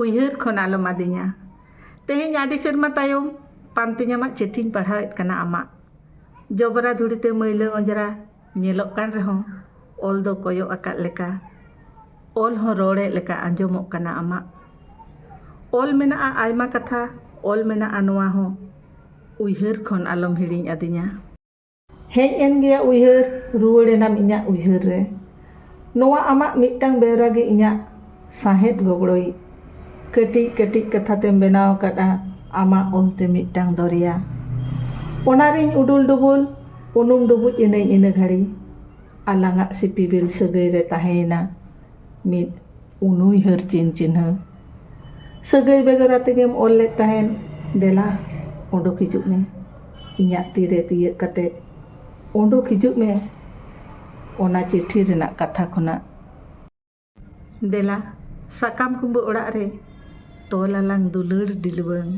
ᱩᱭᱦᱟᱹᱨ ᱠᱷᱚᱱ ᱟᱞᱚᱢ ᱟᱫᱤᱧᱟ᱾ ᱛᱮᱦᱮᱧ ᱟᱹᱰᱤ ᱥᱮᱨᱢᱟ ᱛᱟᱭᱚᱢ᱾ ᱯᱟᱱᱛᱮᱧ ᱟᱢᱟᱜ ᱪᱤᱴᱷᱤᱧ ᱯᱟᱲᱦᱟᱣᱮᱫ ᱠᱟᱱᱟ ᱟᱢᱟᱜ᱾ ᱡᱚᱵᱽᱨᱟ ᱫᱷᱩᱲᱤ ᱛᱮ ᱢᱟᱹᱭᱞᱟᱹ ᱚᱸᱡᱽᱨᱟ ᱧᱮᱞᱚᱜ ᱠᱟᱱ ᱨᱮᱦᱚᱸ᱾ ᱚᱞ ᱫᱚ ᱠᱚᱭᱚᱜ ᱟᱠᱟᱫ ᱞᱮᱠᱟ᱾ ᱚᱞ ᱦᱚᱸ ᱨᱚᱲᱮᱫ ᱞᱮᱠᱟ ᱟᱸᱡᱚᱢᱚᱜ ᱠᱟᱱᱟ ᱟᱢᱟᱜ᱾ ᱚᱞ ᱢᱮᱱᱟᱜᱼᱟ ᱟᱭᱢᱟ ᱠᱟᱛᱷᱟ ᱚᱞ ᱢᱮᱱᱟᱜᱼᱟ ᱱᱚᱶᱟ ᱦᱚᱸ᱾ ᱩᱭᱦᱟᱹᱨ ᱠᱷᱚᱱ ᱟᱞᱚᱢ ᱦᱤᱲᱤᱧ ᱟᱫᱤᱧᱟ᱾ ᱦᱮᱡ ᱮᱱ ᱜᱮᱭᱟ ᱩᱭᱦᱟᱹᱨ ᱨᱩᱣᱟᱹᱲ ᱮᱱᱟᱢ ᱤᱧᱟᱜ ᱩᱭᱦᱟᱹᱨ ᱨᱮ ᱱᱚᱣᱟ ᱟᱢᱟᱜ ᱢᱤᱫᱴᱟᱝ ᱵᱮᱣᱨᱟ ᱜᱮ ᱤᱧᱟᱜ ᱥᱟᱸᱦᱮᱫ ᱜᱚᱜᱽᱲᱚᱭᱤᱡ ᱠᱟᱹᱴᱤᱡ ᱠᱟᱹᱴᱤᱡ ᱠᱟᱛᱷᱟ ᱛᱮᱢ ᱵᱮᱱᱟᱣ ᱟᱠᱟᱫᱼᱟ ᱟᱢᱟᱜ ᱚᱞ ᱛᱮ ᱢᱤᱫᱴᱟᱝ ᱫᱚᱨᱭᱟ ᱚᱱᱟ ᱨᱤᱧ ᱩᱰᱩᱞ ᱰᱩᱵᱩᱞ ᱩᱱᱩᱢ ᱰᱩᱵᱩᱡ ᱮᱱᱟᱹᱧ ᱤᱱᱟᱹ ᱜᱷᱟᱹᱲᱤ ᱟᱞᱟᱝᱟᱜ ᱥᱤᱯᱤᱵᱤᱞ ᱥᱟᱹᱜᱟᱹᱭ ᱨᱮ ᱛᱟᱦᱮᱸᱭᱮᱱᱟ ᱢᱤᱫ ᱩᱱᱩᱭᱦᱟᱹᱨ ᱪᱤᱱ ᱪᱤᱱᱦᱟᱹ ᱥᱟᱹᱜᱟᱹᱭ ᱵᱮᱜᱚᱨ ᱟᱛᱮᱜᱮᱢ ᱚᱞ ᱞᱮᱫ ᱛᱟᱦᱮᱸᱫ ᱫᱮᱞᱟ ᱚᱰᱚᱠ ᱦᱤᱡᱩᱜ ᱢᱮ ᱤᱧᱟᱹᱜ ᱛᱤᱨᱮ ᱛᱤᱭᱟᱹᱜ ᱠᱟᱛᱮ ᱚᱰᱚᱠ ᱦᱤᱡᱩᱜ ᱢᱮ ᱚᱱᱟ ᱪᱤᱴᱷᱤ ᱨᱮᱱᱟᱜ ᱠᱟᱛᱷᱟ ᱠᱷᱚᱱᱟᱜ ᱫᱮᱞᱟ ᱥᱟᱠᱟᱢ ᱠᱩᱢᱵᱟᱹ ᱚᱲᱟᱜ ᱨᱮ ᱛᱚᱞ ᱟᱞᱟᱝ ᱫᱩᱞᱟᱹᱲ ᱰᱤᱞᱣᱟᱹᱝ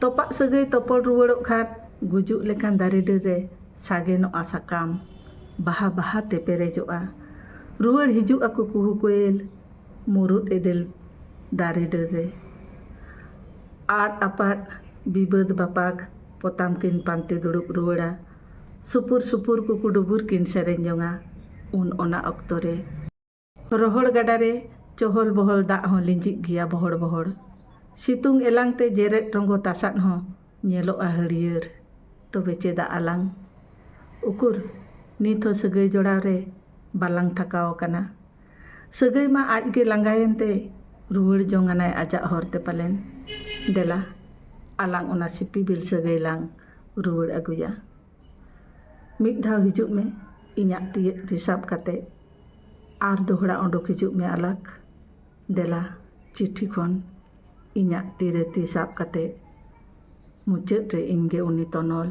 ᱛᱚᱯᱟᱜ ᱥᱟᱹᱜᱟᱹᱭ ᱛᱚᱯᱚᱞ ᱨᱩᱣᱟᱹᱲᱚᱜ ᱠᱷᱟᱱ ᱜᱩᱡᱩᱜ ᱞᱮᱠᱟᱱ ᱫᱟᱨᱮ ᱰᱟᱹᱨ ᱨᱮ ᱥᱟᱜᱮᱱᱚᱜᱼᱟ ᱥᱟᱠᱟᱢ ᱵᱟᱦᱟ ᱵᱟᱦᱟ ᱛᱮ ᱯᱮᱨᱮᱡᱚᱜᱼᱟ ᱨᱩᱣᱟᱹᱲ ᱦᱤᱡᱩᱜ ᱟᱠᱚ ᱠᱩᱦᱩ ᱠᱚᱭᱮᱞ ᱢᱩᱨᱩᱫ ᱮᱫᱮᱞ ᱫᱟᱨᱮ ᱰᱟᱹᱨ ᱨᱮ᱾ ᱟᱫ ᱟᱯᱟᱫ ᱵᱤᱵᱟᱹᱫᱽ ᱵᱟᱯᱟᱜᱽ ᱯᱚᱛᱟᱢ ᱠᱤᱱ ᱯᱟᱱᱛᱮ ᱫᱩᱲᱩᱵ ᱨᱩᱣᱟᱹᱲᱟ᱾ ᱥᱩᱯᱩᱨ ᱥᱩᱯᱩᱨ ᱠᱩᱠᱩ ᱰᱩᱵᱩᱨ ᱠᱤᱱ ᱥᱮᱨᱮᱧ ᱡᱚᱝᱟ ᱩᱱ ᱚᱱᱟ ᱚᱠᱛᱚ ᱨᱮ᱾ ᱨᱚᱦᱚᱲ ᱜᱟᱰᱟ ᱨᱮ ᱪᱚᱦᱚᱞ ᱵᱚᱦᱚᱞ ᱫᱟᱜ ᱦᱚᱸ ᱞᱤᱸᱡᱤᱜ ᱜᱮᱭᱟ ᱵᱚᱦᱚᱲ ᱵᱚᱦᱚᱲ᱾ ᱥᱤᱛᱩᱝ ᱮᱞᱟᱝ ᱛᱮ ᱡᱮᱨᱮᱫ ᱨᱚᱸᱜᱚ ᱛᱟᱥᱟᱫ ᱦᱚᱸ ᱧᱮᱞᱚᱜᱼᱟ ᱦᱟᱹᱨᱭᱟᱹᱲ᱾ ᱛᱚᱵᱮ ᱪᱮᱫᱟᱜ ᱟᱞᱟᱝ? ᱩᱠᱩᱨ ᱱᱤᱛ ᱦᱚᱸ ᱥᱟᱹᱜᱟᱹᱭ ᱡᱚᱲᱟᱣ ᱨᱮ ᱵᱟᱞᱟᱝ ᱛᱷᱟᱠᱟᱣ ᱟᱠᱟᱱᱟ᱾ ᱥᱟᱹᱜᱟᱹᱭ ᱢᱟ ᱟᱡ ᱜᱮ ᱞᱟᱸᱜᱟᱭᱮᱱ ᱛᱮᱭ ᱨᱩᱣᱟᱹᱲ ᱡᱚᱝ ᱟᱱᱟᱭ ᱟᱡᱟᱜ ᱦᱚᱨ ᱛᱮ ᱯᱟᱞᱮᱱ᱾ ᱫᱮᱞᱟ ᱟᱞᱟᱝ ᱚᱱᱟ ᱥᱤᱯᱤᱵᱤᱞ ᱥᱟᱹᱜᱟᱹᱭ ᱞᱟᱝ ᱨᱩᱣᱟᱹᱲ ᱟᱹᱜᱩᱭᱟ᱾ ᱢᱤᱫ ᱫᱷᱟᱣ ᱦᱤᱡᱩᱜ ᱢᱮ ᱤᱧᱟᱜ ᱛᱤᱭᱟᱜ ᱛᱤ ᱥᱟᱵ ᱠᱟᱛᱮ᱾ ᱟᱨ ᱫᱚᱦᱲᱟ ᱚᱰᱚᱠ ᱦᱤᱡᱩᱜ ᱢᱮ ᱟᱞᱟᱠ᱾ ᱫᱮᱞᱟ ᱪᱤᱴᱷᱤ ᱠᱷᱚᱱ ᱤᱧᱟᱜ ᱛᱤ ᱨᱮ ᱛᱤ ᱥᱟᱵ ᱠᱟᱛᱮ᱾ ᱢᱩᱪᱟᱹᱫ ᱨᱮ ᱤᱧ ᱜᱮ ᱩᱱᱤ ᱛᱚᱱᱚᱞ᱾